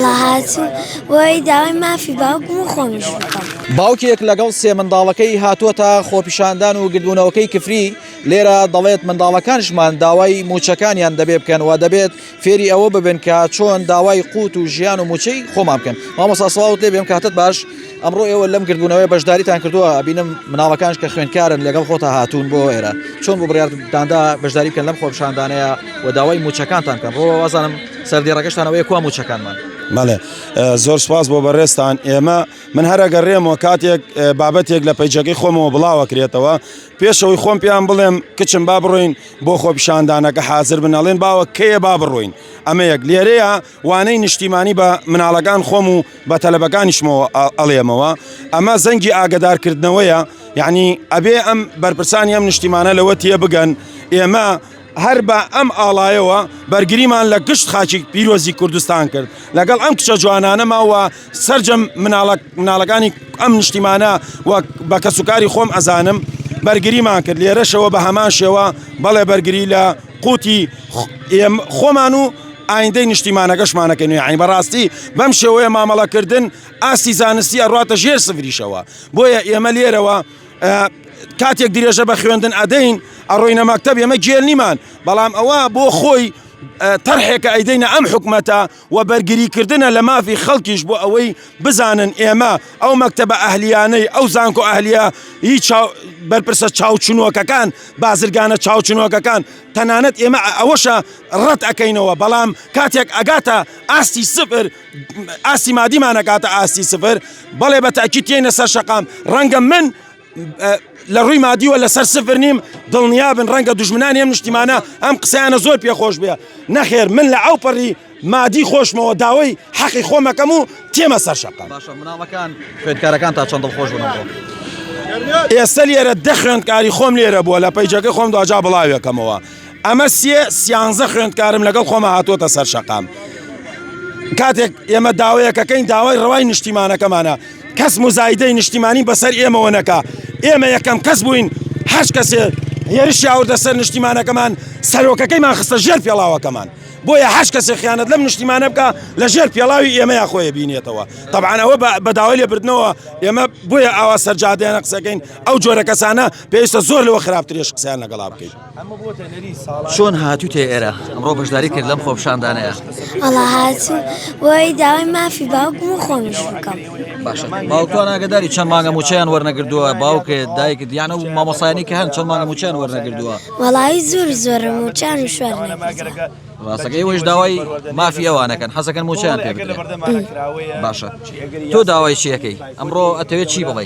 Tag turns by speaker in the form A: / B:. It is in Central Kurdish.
A: هاتووم بۆی داوای مافی باوکم و خۆمیش بکەم. باوکێک لەگەڵ
B: سێ منداڵەکەی هاتووەتە خۆپیشاندان و گردبوونەوەکەی کفری لێرە دەڵێت، منداڵەکانشمان داوای مووچەکانیان دەبێ بکەن و دەبێت فێری ئەوە ببن کە چۆن داوای قووت و ژیان و مووچەی خۆمان بکەن. مامۆستا سڵاوت لێبێ ئەم کاتەت باش. ئەمڕۆ ئێوە لەم گردبوونەوەی بەشداریتان کردووە بینم مناڵەکانش کە خوێندکارن لەگەڵ خۆتا هاتوون بۆ ئێرە چۆن بۆ بڕارداندا بەشداری بکەن لەم خۆپشاندانەیە و داوای موچەکانتان کەن ڕۆ وازانم سەردێڕەکەشتانەوەی کوا موچەکانمان مەڵێ
C: زۆر سپاس بۆ بەڕێستان ئێمە من هەرەگە ڕێمەوە کاتێک بابەتێک لە پەیجەکەی خۆمەوە بڵاوەکرێتەوە پێشەوەی خۆم پێیان بڵێم کچم با بڕۆین بۆ خۆپشاندانەکە حاضر بنەڵێن باوە کەیە با بڕۆین ئەمە یەک لێرەیە وانەی نیشتیمانی بە مناڵەکان خۆم و بە تەلەبەکانیشمەوە ئەڵێمەوە ئەمە زەنگی ئاگدارکردنەوەیە یعنی ئەبێ ئەم بەرپرسانی ئەم نیشتیمانە لەوە تێ بگەن ئێمە هەر بە ئەم ئاڵایەوە بەرگریمان لە گشت خاچی پیرۆزی کوردستان کرد لەگەڵ ئەم کچە جوانانەماوە سرجەم مناڵەکانی ئەم نیشتیمانە وەک بە کەسوکاری خۆم ئەزانم بەرگریمان کرد لێرەشەوە بە هەمان شێوە بەڵێ بەرگری لە قوتی خۆمان و ئایندەی نیشتیمانەکەشمانەکەن یعنی بەڕاستی بەم شێوەیە مامەڵەکردن ئاستی زانستی ئەڕاتە ژێر سفریشەوە بۆیە ئێمە لێرەوە کاتێک درێژە بە خوێندن ئەدەین ئەڕۆینە مەکتب ئێمە گێل نیمان بەڵام ئەوە بۆ خۆی تەرحێکە ئەیدەینە ئەم حکومەتە و بەرگریکردنە لە مافی خەڵکیش بۆ ئەوەی بزانن ئێمە ئەو مەکتەبە ئەهلییانەی، ئەو زانکۆ ئەهلییە ی چاو، بەرپرسە چاوچنۆکەکان، بازرگانە چاوچنۆکەکان، تەنانەت ئێمە ئەوەشە ڕەت ئەکەینەوە، بەڵام کاتێک ئەگاتە ئاستی سفر، ئاستی مادیمان ئەگاتە ئاستی سفر، بەڵێ بە تەئکید تێینە سەر شەقام، ڕەنگە من لە ڕووی مادیوە لەسەر سفر نیم دڵنیابن ڕەنگە دژمنانی ئەم نیشتیمانە ئەم قسەیانە زۆر پێخۆش بێ نەخێر من لە ئەو پەڕی مادی خۆشمەوە داوای حەقی خۆمەکەم و تێمە سەر شەقام مناڵەکان
B: خوێندکارەکان تا چەندڵ خۆش بن ئێستا
C: لێرە دە خوێندکاری خۆم لێرە بووە لە پەیجەکە خۆم دواجا بڵاوێکەمەوە ئەمە سێ سیانزە خوێندکارم لەگەڵ خۆمە هاتووەتە سەر شەقام کاتێک ئێمە داوایەکەکەین داوای ڕەوای نیشتیمانەکەمانە کەس مزایدەی نیشتیمانی بەسەر ئێمەوە نەکا ئێمە یەکەم کەس بووین هەش کەسێ هێرش یاوردە سەر نیشتیمانەکەمان سەرۆکەکەیمان خستە ژێر پێڵاوەکەمان بۆیە هەش کەسێ خیانەت لەم نیشتیمانە بکە لە ژێر پێڵاوی ئێمەیان خۆی بینێتەوە تەبانەوە بەداوای لێ بردنەوە ئێمە بۆیە ئاوا سەرجادیانە قسەکەین ئەو جۆرە کەسانە پێویستە زۆر لەوە خراپترێش قسەیان لەگەڵا بکەین
B: چۆن هاتووتە ئێرە ئەمڕۆ بەشداری کرد لەم خۆپشاندانەیە ئەڵا
A: هاتوو بۆی داوای مافی باوکم و خۆمیش بکەم باشە
B: باوکان ئاگداری چەند مانگە موچیان وەرنەگردووە باوکێ دایک دیانە و مامۆسایانی کە هەن چەند مانگە موچیان وەرنەگردووە وەڵی زۆر
A: زۆر موچان و شوێن ڕاستەکەی وەش
B: داوای مافی ئەوانەکەن حەزەکەن موچیان پێ باشە تۆ داوای چیەکەی ئەمڕۆ ئەتەوێت چی بڵێ